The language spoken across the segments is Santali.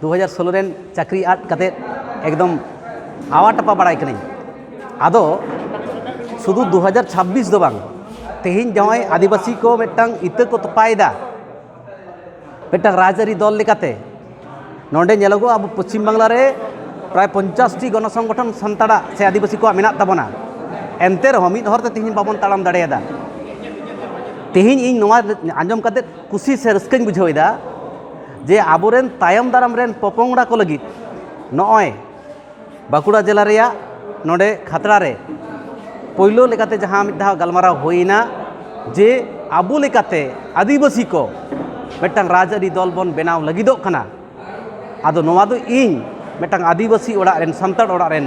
ᱫᱩ ᱦᱟᱡᱟᱨ ᱥᱳᱞᱳ ᱨᱮ ᱪᱟᱹᱠᱨᱤ ᱟᱫ ᱠᱟᱛᱮ ᱮᱠᱫᱚᱢ ᱟᱣᱟ ᱴᱟᱯᱟ ᱵᱟᱲᱟᱭ ᱠᱟᱹᱱᱟᱹᱧ ᱟᱫᱚ ᱥᱩᱫᱷᱩ ᱫᱩ ᱦᱟᱡᱟᱨ ᱪᱷᱟᱵᱵᱤᱥ ᱫᱚ ᱵᱟᱝ ᱛᱮᱦᱮᱧ ᱡᱟᱦᱟᱸᱭ ᱟᱹᱫᱤᱵᱟᱹᱥᱤ ᱠᱚ ᱢᱤᱫᱴᱟᱝ ᱤᱛᱟᱹ ᱠᱚ ᱛᱚᱯᱟᱭᱮᱫᱟ ᱢᱤᱫᱴᱟᱝ ᱨᱟᱡᱽᱟᱹᱨᱤ ᱫᱚᱞ ᱞᱮᱠᱟᱛᱮ ᱱᱚᱰᱮ ᱧᱮᱞᱚᱜᱚᱜᱼᱟ ᱟᱵᱚ ᱯᱚᱪᱷᱤᱢ ᱵᱟᱝᱞᱟ ᱨᱮ ᱯᱨᱟᱭ ᱯᱚᱧᱪᱟᱥᱴᱤ ᱜᱚᱱᱚ ᱥᱚᱝᱜᱚᱴᱷᱚᱱ ᱥᱟᱱᱛᱟᱲᱟᱜ ᱥᱮ ᱟᱹᱫᱤᱵᱟᱹᱥᱤ ᱠᱚᱣᱟᱜ ᱢᱮᱱᱟᱜ ᱛᱟᱵᱚᱱᱟ ᱮᱱᱛᱮ ᱨᱮᱦᱚᱸ ᱢᱤᱫ ᱦᱚᱨᱛᱮ ᱛᱮᱦᱮᱧ ᱵᱟᱵᱚᱱ ᱛᱟᱲᱟᱢ ᱫᱟᱲᱮᱭᱟᱫᱟ ᱛᱮᱦᱮᱧ ᱤᱧ ᱱᱚᱣᱟ ᱟᱸᱡᱚᱢ ᱠᱟᱛᱮ ᱠᱩᱥᱤ ᱥᱮ ᱨᱟᱹᱥᱠᱟᱹᱧ ᱵᱩᱡᱷᱟᱹᱣᱮᱫᱟ ᱡᱮ ᱟᱵᱚᱨᱮᱱ ᱛᱟᱭᱚᱢ ᱫᱟᱨᱟᱢ ᱨᱮᱱ ᱯᱚᱯᱚᱝᱲᱟ ᱠᱚ ᱞᱟᱹᱜᱤᱫ ᱱᱚᱜᱼᱚᱭ ᱵᱟᱸᱠᱩᱲᱟ ᱡᱮᱞᱟ ᱨᱮᱭᱟᱜ ᱱᱚᱰᱮ ᱠᱷᱟᱛᱲᱟ ᱨᱮ ᱯᱳᱭᱞᱳ ᱞᱮᱠᱟᱛᱮ ᱡᱟᱦᱟᱸ ᱢᱤᱫ ᱫᱷᱟᱣ ᱜᱟᱞᱢᱟᱨᱟᱣ ᱦᱩᱭᱱᱟ ᱡᱮ ᱟᱵᱚ ᱞᱮᱠᱟᱛᱮ ᱟᱹᱫᱤᱵᱟᱹᱥᱤ ᱠᱚ ᱢᱤᱫᱴᱟᱝ ᱨᱟᱡᱽᱟᱹᱨᱤ ᱫᱚᱞ ᱵᱚᱱ ᱵᱮᱱᱟᱣ ᱞᱟᱹᱜᱤᱫᱚᱜ ᱠᱟᱱᱟ ᱟᱫᱚ ᱱᱚᱣᱟ ᱫᱚ ᱤᱧ ᱢᱤᱫᱴᱟᱝ ᱟᱹᱫᱤᱵᱟᱹᱥᱤ ᱚᱲᱟᱜ ᱨᱮᱱ ᱥᱟᱱᱛᱟᱲ ᱚᱲᱟᱜ ᱨᱮᱱ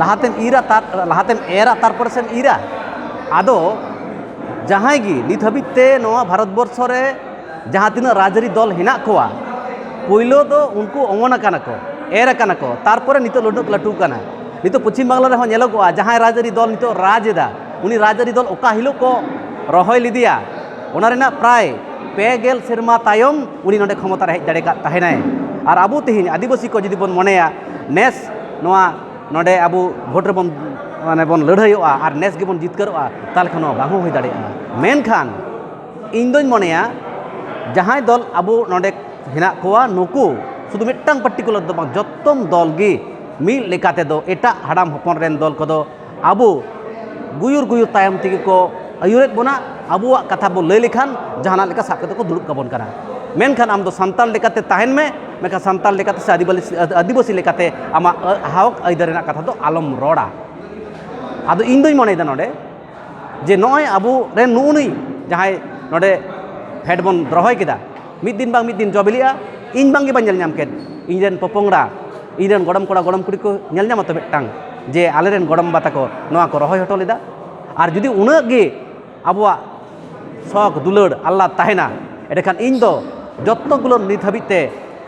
ᱞᱟᱦᱟᱛᱮᱢ ᱤᱨᱟ ᱛᱟᱨ ᱞᱟᱦᱟᱛᱮᱢ ᱮᱨᱟ ᱛᱟᱨᱯᱚᱨᱮ ᱥᱮᱢ ᱤᱨᱟ ᱟᱫᱚ ᱡᱟᱦᱟᱸᱭ ᱜᱮ ᱱᱤᱛ ᱦᱟᱹᱵᱤᱡ ᱛᱮ ᱱᱚᱣᱟ ᱵᱷᱟᱨᱚᱛ ᱵᱚᱨᱥᱚ ᱨᱮ ᱡᱟᱦᱟᱸ ᱛᱤᱱᱟᱹᱜ ᱨᱟᱡᱽᱼᱟᱹᱨᱤ ᱫᱚᱞ ᱦᱮᱱᱟᱜ ᱠᱚᱣᱟ ᱯᱳᱭᱞᱳ ᱫᱚ ᱩᱱᱠᱩ ᱚᱢᱚᱱ ᱟᱠᱟᱱᱟ ᱠᱚ ᱮᱨ ᱟᱠᱟᱱᱟ ᱠᱚ ᱛᱟᱨᱯᱚᱨᱮ ᱱᱤᱛᱚᱜ ᱞᱩᱰᱩᱜ ᱞᱟᱹᱴᱩ ᱟᱠᱟᱱᱟ ᱱᱤᱛᱚᱜ ᱯᱚᱪᱷᱤᱢ ᱵᱟᱝᱞᱟ ᱨᱮᱦᱚᱸ ᱧᱮᱞᱚᱜᱚᱜᱼᱟ ᱡᱟᱦᱟᱸᱭ ᱨᱟᱡᱽᱼᱟᱹᱨᱤ ᱫᱚᱞ ᱱᱤᱛᱚᱜ ᱨᱟᱡᱽ ᱮᱫᱟ ᱩᱱᱤ ᱨᱟᱡᱽᱼᱟᱹᱨᱤ ᱫᱚᱞ ᱚᱠᱟ ᱦᱤᱞᱳᱜ ᱠᱚ ᱨᱚᱦᱚᱭ ᱞᱮᱫᱮᱭᱟ ᱚᱱᱟ ᱨᱮᱱᱟᱜ ᱯᱨᱟᱭ ᱯᱮ ᱜᱮᱞ ᱥᱮᱨᱢᱟ ᱛᱟᱭᱚᱢ ᱩᱱᱤ ᱱᱚᱰᱮ ᱠᱷᱚᱢᱚᱛᱟ ᱨᱮ ᱦᱮᱡ ᱫᱟᱲᱮ ᱠᱟᱫ ᱛᱟᱦᱮᱱᱟᱭ ᱟᱨ ᱟᱵᱚ ᱛᱮᱦᱮᱧ ᱟᱹᱫᱤᱵᱟᱹᱥᱤ ᱠᱚ ᱡᱩᱫᱤ ᱵᱚᱱ ᱢᱚᱱᱮᱭᱟ ᱱᱮᱥ ᱱᱚᱣᱟ ᱱᱚᱰᱮ ᱟᱵᱚ ᱵᱷᱳᱴ ᱨᱮᱵᱚᱱ ᱢᱟᱱᱮ ᱵᱚᱱ ᱞᱟᱹᱲᱦᱟᱹᱭᱚᱜᱼᱟ ᱟᱨ ᱱᱮᱥ ᱜᱮᱵᱚᱱ ᱡᱤᱛᱠᱟᱹᱨᱚᱜᱼᱟ ᱛᱟᱦᱚᱞᱮ ᱠᱷᱟᱱ ᱱᱚᱣᱟ ᱵᱟᱝ ᱦᱚᱸ ᱦᱩᱭ ᱫᱟᱲᱮᱭᱟᱜᱼᱟ ᱢᱮᱱᱠᱷᱟᱱ ᱤᱧ ᱫᱚᱧ ᱢᱚᱱᱮᱭᱟ ᱡᱟᱦᱟᱸᱭ ᱫᱚᱞ ᱟᱵᱚ ᱱᱚᱰᱮ ᱦᱮᱱᱟᱜ ᱠᱚᱣᱟ ᱱᱩᱠᱩ ᱥᱩᱫᱷᱩ ᱢᱤᱫᱴᱟᱝ ᱯᱟᱨᱴᱤᱠᱩᱞᱟᱨ ᱫᱚ ᱵᱟᱝ ᱡᱚᱛᱚᱢ ᱫᱚᱞ ᱜᱮ ᱢᱤᱫ ᱞᱮᱠᱟ ᱛᱮᱫᱚ ᱮᱴᱟᱜ ᱦᱟᱲᱟᱢ ᱦᱚᱯᱚᱱ ᱨᱮᱱ ᱫᱚᱞ ᱠᱚᱫᱚ ᱟᱵᱚ ᱜᱩᱭᱩᱨ ᱜᱩᱭᱩᱨ ᱛᱟᱭᱚᱢ ᱛᱮᱜᱮ ᱠᱚ ᱟᱹᱭᱩᱨᱮᱫ ᱵᱚᱱᱟ ᱟᱵᱚᱣᱟᱜ ᱠᱟᱛᱷᱟ ᱵᱚᱱ ᱞᱟᱹᱭ ᱞᱮᱠᱷᱟᱱ ᱡᱟᱦᱟᱱᱟᱜ ᱞᱮᱠᱟ ᱥᱟᱵ ᱠᱟᱛᱮᱫ ᱠᱚ ᱫᱩᱲᱩᱵ ᱠᱟᱵᱚᱱ ᱠᱟᱱᱟ ᱢᱮᱱᱠᱷᱟᱱ ᱟᱢᱫᱚ ᱥᱟᱱᱛᱟᱲ ᱞᱮᱠᱟᱛᱮ ᱛᱟᱦᱮᱱ ᱢᱮ ᱢᱮᱱᱠᱷᱟᱱ ᱥᱟᱱᱛᱟᱲ ᱞᱮᱠᱟᱛᱮ ᱥᱮ ᱟᱹᱫᱤᱵᱟᱹᱥᱤ ᱞᱮᱠᱟᱛᱮ ᱟᱢᱟᱜ ᱦᱚᱸᱠ ᱟᱹᱭᱫᱟᱹᱨ ᱨᱮᱱᱟᱜ ᱠᱟᱛᱷᱟ ᱫᱚ ᱟᱞᱚᱢ ᱨᱚᱲᱟ ᱟᱫᱚ ᱤᱧ ᱫᱩᱧ ᱢᱚᱱᱮᱭᱮᱫᱟ ᱱᱚᱰᱮ ᱡᱮ ᱱᱚᱜᱼᱚᱭ ᱟᱵᱚ ᱨᱮᱱ ᱱᱩᱜᱼᱩ ᱱᱩᱭ ᱡᱟᱦᱟᱸᱭ ᱱᱚᱰᱮ ᱯᱷᱮᱰ ᱵᱚᱱ ᱨᱚᱦᱚᱭ ᱠᱮᱫᱟ ᱢᱤᱫ ᱫᱤᱱ ᱵᱟᱝ ᱢᱤᱫ ᱫᱤᱱ ᱡᱚ ᱵᱤᱞᱤᱜᱼᱟ ᱤᱧ ᱵᱟᱝ ᱜᱮ ᱵᱟᱹᱧ ᱧᱮᱞ ᱧᱟᱢ ᱠᱮᱫ ᱤᱧ ᱨᱮᱱ ᱯᱚᱯᱚᱝᱲᱟ ᱤᱧ ᱨᱮᱱ ᱜᱚᱲᱚᱢ ᱠᱚᱲᱟ ᱜᱚᱲᱚᱢ ᱠᱩᱲᱤ ᱠᱚ ᱧᱮᱞ ᱧᱟᱢᱟ ᱛᱚ ᱢᱤᱫᱴᱟᱝ ᱡᱮ ᱟᱞᱮ ᱨᱮᱱ ᱜᱚᱲᱚᱢ ᱵᱟ ᱛᱟᱠᱚ ᱱᱚᱣᱟ ᱠᱚ ᱨᱚᱦᱚᱭ ᱦᱚᱴᱚ ᱞᱮᱫᱟ ᱟᱨ ᱡᱩᱫᱤ ᱩᱱᱟᱹᱜ ᱜᱮ ᱟᱵᱚᱣᱟᱜ ᱥᱚᱠ ᱫᱩᱞᱟᱹᱲ ᱟᱞᱞᱟᱫ ᱛᱟᱦᱮᱱᱟ ᱮᱸᱰᱮᱠᱷᱟᱱ ᱤᱧ ᱫᱚ ᱡᱚᱛᱚ ᱜᱩᱞᱟᱹ ᱱᱤᱛ ᱦᱟᱹᱵᱤᱡ ᱛᱮ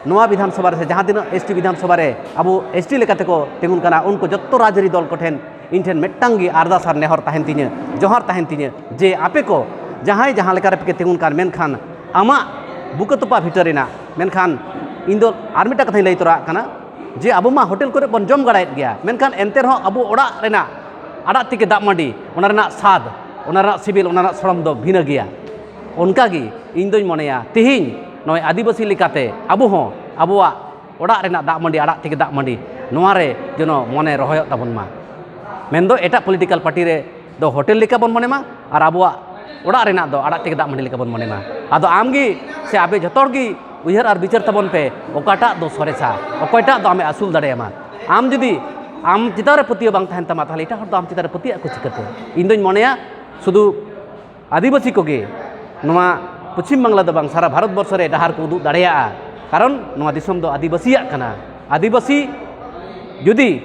ᱱᱚᱣᱟ ᱵᱤᱫᱷᱟᱱ ᱥᱚᱵᱷᱟ ᱨᱮ ᱥᱮ ᱡᱟᱦᱟᱸ ᱛᱤᱱᱟᱹᱜ ᱮᱥ ᱴᱤ ᱵᱤᱫᱷᱟᱱ ᱥᱚᱵᱷᱟ ᱨᱮ ᱟᱵᱚ ᱮᱥ ᱴᱤ ᱞᱮᱠᱟᱛᱮ ᱠᱚ ᱛᱤᱸᱜᱩᱱ ᱠᱟᱱᱟ ᱩᱱᱠᱩ ᱡᱚᱛᱚ ᱨᱟᱡᱽᱼᱟᱹᱨᱤ ᱫᱚᱞ ᱠᱚᱴᱷᱮᱱ ᱤᱧ ᱴᱷᱮᱱ ᱢᱤᱫᱴᱟᱝ ᱜᱮ ᱟᱨᱫᱟᱥ ᱟᱨ ᱱᱮᱦᱚᱨ ᱛᱟᱦᱮᱱ ᱛᱤᱧᱟᱹ ᱡᱚᱦᱟᱨ ᱛᱟᱦᱮᱱ ᱛᱤᱧᱟᱹ ᱡᱮ ᱟᱯᱮ ᱠᱚ ᱡᱟᱦᱟᱸᱭ ᱡᱟᱦᱟᱸ ᱞᱮᱠᱟ ᱨᱮᱯᱮ ᱛᱤᱸᱜᱩᱱ ᱠᱟᱱ ᱢᱮᱱᱠᱷᱟᱱ ᱟᱢᱟᱜ ᱵᱩᱠᱟᱹ ᱛᱚᱯᱟ ᱵᱷᱤᱴᱟᱹ ᱨᱮᱱᱟᱜ ᱢᱮᱱᱠᱷᱟᱱ ᱤᱧ ᱫᱚ ᱟᱨ ᱢᱤᱫᱴᱟᱝ ᱠᱟᱛᱷᱟᱧ ᱞᱟᱹᱭ ᱛᱚᱨᱟᱜ ᱠᱟᱱᱟ ᱡᱮ ᱟᱵᱚ ᱢᱟ ᱦᱳᱴᱮᱞ ᱠᱚᱨᱮ ᱵᱚᱱ ᱡᱚᱢ ᱵᱟᱲᱟᱭᱮᱫ ᱜᱮᱭᱟ ᱢᱮᱱᱠᱷᱟᱱ ᱮᱱᱛᱮ ᱨᱮᱦᱚᱸ ᱟᱵᱚ ᱚᱲᱟᱜ ᱨᱮᱱᱟᱜ ᱟᱲᱟᱜ ᱛᱤᱠᱤ ᱫᱟᱜ ᱢᱟᱹᱰᱤ ᱚᱱᱟ ᱨᱮᱱᱟᱜ ᱥᱟᱫ ᱚᱱᱟ ᱨᱮᱱᱟᱜ ᱥᱤᱵᱤᱞ ᱚᱱᱟ ᱨᱮᱱᱟᱜ ᱥᱚᱲᱚᱢ ᱫᱚ ᱵᱷᱤᱱᱟᱹ ᱜᱮᱭᱟ ᱚᱱᱠᱟᱜᱮ ᱤᱧ ᱫᱚᱧ ᱢᱚᱱᱮᱭᱟ ᱛᱮᱦᱮᱧ ᱱᱚᱜᱼᱚᱭ ᱟᱹᱫᱤᱵᱟᱹᱥᱤ ᱞᱮᱠᱟᱛᱮ ᱟᱵᱚ ᱦᱚᱸ ᱟᱵᱚᱣᱟᱜ ᱚᱲᱟᱜ ᱨᱮᱱᱟᱜ ᱫᱟᱜ ᱢᱟᱹᱰᱤ ᱟᱲᱟᱜ ᱛᱮᱜᱮ ᱫᱟᱜ ᱢᱟᱹᱰᱤ ᱱᱚᱣᱟ ᱨᱮ ᱡᱮᱱᱚ ᱢᱚᱱᱮ ᱨᱚᱦᱚᱭᱚᱜ ᱛᱟᱵᱚᱱ ᱢᱟ ᱢᱮᱱ ᱫᱚ ᱮᱴᱟᱜ ᱯᱚᱞᱤᱴᱤᱠᱟᱞ ᱯᱟᱨᱴᱤ ᱨᱮ ᱫᱚ ᱦᱳᱴᱮᱞ ᱞᱮᱠᱟ ᱵᱚᱱ ᱢᱚᱱᱮ ᱢᱟ ᱟᱨ ᱟᱵᱚᱣᱟᱜ ᱚᱲᱟᱜ ᱨᱮᱱᱟᱜ ᱫᱚ ᱟᱲᱟᱜ ᱛᱮᱜᱮ ᱫᱟᱜ ᱢᱟᱹᱰᱤ ᱞᱮᱠᱟ ᱵᱚᱱ ᱢᱚᱱᱮ ᱢᱟ ᱟᱫᱚ ᱟᱢ ᱜᱮ ᱥᱮ ᱟᱯᱮ ᱡᱚᱛᱚ ᱦᱚᱲ ᱜᱮ ᱩᱭᱦᱟᱹᱨ ᱟᱨ ᱵᱤᱪᱟᱹᱨ ᱛᱟᱵᱚᱱ ᱯᱮ ᱚᱠᱟᱴᱟᱜ ᱫᱚ ᱥᱚᱨᱮᱥᱟ ᱚᱠᱚᱭᱴᱟᱜ ᱫᱚ ᱟᱢᱮ ᱟᱹᱥᱩᱞ ᱫᱟᱲᱮᱭᱟᱢᱟ ᱟᱢ ᱡᱩᱫᱤ ᱟᱢ ᱪᱮᱛᱟᱱ ᱨᱮ ᱯᱟᱹᱛᱭᱟᱹᱣ ᱵᱟᱝ ᱛᱟᱦᱮᱱ ᱛᱟᱢᱟ ᱛᱟᱦᱚᱞᱮ ᱮᱴᱟᱜ ᱦᱚᱲ ᱫᱚ ᱟᱢ ᱪᱮᱛᱟᱱ ᱨᱮ ᱯᱟᱹᱛᱭᱟᱹᱜ ᱟᱠᱚ ᱪᱤᱠᱟᱹᱛᱮ ᱤᱧ ᱫᱚᱧ ᱢᱚᱱᱮᱭᱟ ᱥᱩᱫᱷᱩ ᱟᱹᱫᱤᱵᱟᱹᱥᱤ ᱠᱚᱜᱮ ᱱᱚᱣᱟ ᱯᱚᱪᱷᱤᱢ ᱵᱟᱝᱞᱟ ᱫᱚ ᱵᱟᱝ ᱥᱟᱨᱟ ᱵᱷᱟᱨᱚᱛ ᱵᱚᱨᱥᱚ ᱨᱮ ᱰᱟᱦᱟᱨ ᱠᱚ ᱩᱫᱩᱜ ᱫᱟᱲᱮᱭᱟᱜᱼᱟ ᱠᱟᱨᱚᱱ ᱱᱚᱣᱟ ᱫᱤᱥᱚᱢ ᱫᱚ ᱟᱹᱫᱤᱵᱟᱹᱥᱤᱭᱟᱜ ᱠᱟᱱᱟ ᱟᱹᱫᱤᱵᱟᱹᱥᱤ ᱡᱩᱫᱤ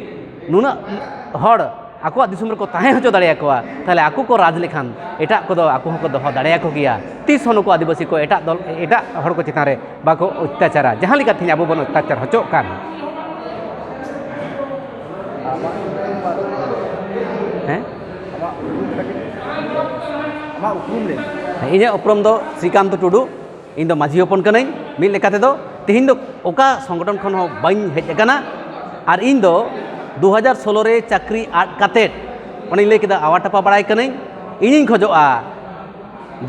ᱱᱩᱱᱟᱹᱜ ᱦᱚᱲ ᱟᱠᱚᱣᱟᱜ ᱫᱤᱥᱚᱢ ᱨᱮᱠᱚ ᱛᱟᱦᱮᱸ ᱦᱚᱪᱚ ᱫᱟᱲᱮᱭᱟᱠᱚᱣᱟ ᱛᱟᱦᱚᱞᱮ ᱟᱠᱚ ᱠᱚ ᱨᱟᱡᱽ ᱞᱮᱠᱷᱟᱱ ᱮᱴᱟᱜ ᱠᱚᱫᱚ ᱟᱠᱚ ᱦᱚᱸᱠᱚ ᱫᱚᱦᱚ ᱫᱟᱲᱮᱭᱟᱠᱚ ᱜᱮᱭᱟ ᱛᱤᱥ ᱦᱚᱸ ᱱᱩᱠᱩ ᱟᱹᱫᱤᱵᱟᱹᱥᱤ ᱠᱚ ᱮᱴᱟᱜ ᱫᱚᱞ ᱮᱴᱟᱜ ᱦᱚᱲ ᱠᱚ ᱪᱮᱛᱟᱱ ᱨᱮ ᱵᱟᱠᱚ ᱚᱛᱛᱟᱪᱟᱨᱟ ᱡᱟᱦᱟᱸ ᱞᱮᱠᱟ ᱛᱮᱦᱮᱧ ᱟᱵᱚ ᱵᱚᱱ ᱚᱛᱛᱟᱪᱟᱨ ᱦᱚᱪᱚᱜ ᱠᱟᱱ ᱦᱮᱸ ᱤᱧᱟᱹᱜ ᱩᱯᱨᱩᱢ ᱫᱚ ᱥᱨᱤᱠᱟᱱᱛ ᱴᱩᱰᱩ ᱤᱧ ᱫᱚ ᱢᱟᱹᱡᱷᱤ ᱦᱚᱯᱚᱱ ᱠᱟᱹᱱᱟᱹᱧ ᱢᱤᱫ ᱞᱮᱠᱟ ᱛᱮᱫᱚ ᱛᱮᱦᱮᱧ ᱫᱚ ᱚᱠᱟ ᱥᱚᱝᱜᱚᱴᱷᱚᱱ ᱠᱷᱚᱱ ᱦᱚᱸ ᱵᱟᱹᱧ ᱦᱮᱡ ᱟᱠᱟᱱᱟ ᱟᱨ ᱤᱧ ᱫᱚ ᱫᱩ ᱦᱟᱡᱟᱨ ᱥᱳᱞᱳ ᱨᱮ ᱪᱟᱹᱠᱨᱤ ᱟᱫ ᱠᱟᱛᱮᱫ ᱚᱱᱮᱧ ᱞᱟᱹᱭ ᱠᱮᱫᱟ ᱟᱣᱟ ᱴᱟᱯᱟ ᱵᱟᱲᱟᱭ ᱠᱟᱹᱱᱟᱹᱧ ᱤᱧᱤᱧ ᱠᱷᱚᱡᱚᱜᱼᱟ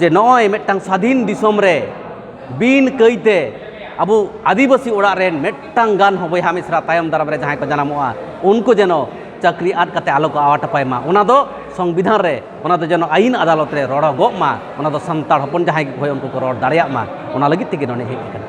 ᱡᱮ ᱱᱚᱜᱼᱚᱭ ᱢᱤᱫᱴᱟᱝ ᱥᱟᱹᱫᱷᱤᱱ ᱫᱤᱥᱚᱢ ᱨᱮ ᱵᱤᱱ ᱠᱟᱹᱭᱛᱮ ᱟᱵᱚ ᱟᱹᱫᱤᱵᱟᱹᱥᱤ ᱚᱲᱟᱜ ᱨᱮᱱ ᱢᱤᱫᱴᱟᱝ ᱜᱟᱱ ᱦᱚᱸ ᱵᱚᱭᱦᱟ ᱢᱤᱥᱨᱟ ᱛᱟᱭᱚᱢ ᱫᱟᱨᱟᱢ ᱨᱮ ᱡᱟᱦᱟᱸᱭ ᱠᱚ ᱡᱟᱱᱟᱢᱚᱜᱼᱟ ᱩᱱᱠᱩ ᱡᱮᱱᱚ ᱪᱟᱹᱠᱨᱤ ᱟᱫ ᱠᱟᱛᱮ ᱟᱞᱚ ᱠᱚ ᱟᱣᱟᱴ ᱟᱯᱟᱭ ᱢᱟ ᱚᱱᱟ ᱫᱚ ᱥᱚᱝᱵᱤᱫᱷᱟᱱ ᱨᱮ ᱚᱱᱟ ᱫᱚ ᱡᱮᱱᱚ ᱟᱭᱤᱱ ᱟᱫᱟᱞᱚᱛ ᱨᱮ ᱨᱚᱲᱚᱜᱚᱜ ᱢᱟ ᱚᱱᱟ ᱫᱚ ᱥᱟᱱᱛᱟᱲ ᱦᱚᱯᱚᱱ ᱡᱟᱦᱟᱸᱭ ᱜᱮᱠᱚ ᱦᱳᱭ ᱩᱱᱠᱩ ᱠᱚ ᱨᱚᱲ ᱫᱟᱲᱮᱭᱟᱜ ᱢᱟ ᱚᱱᱟ ᱞᱟᱹᱜᱤᱫ ᱛᱮᱜᱮ ᱱᱚᱰᱮ ᱦᱮᱡ ᱟᱠᱟᱱᱟ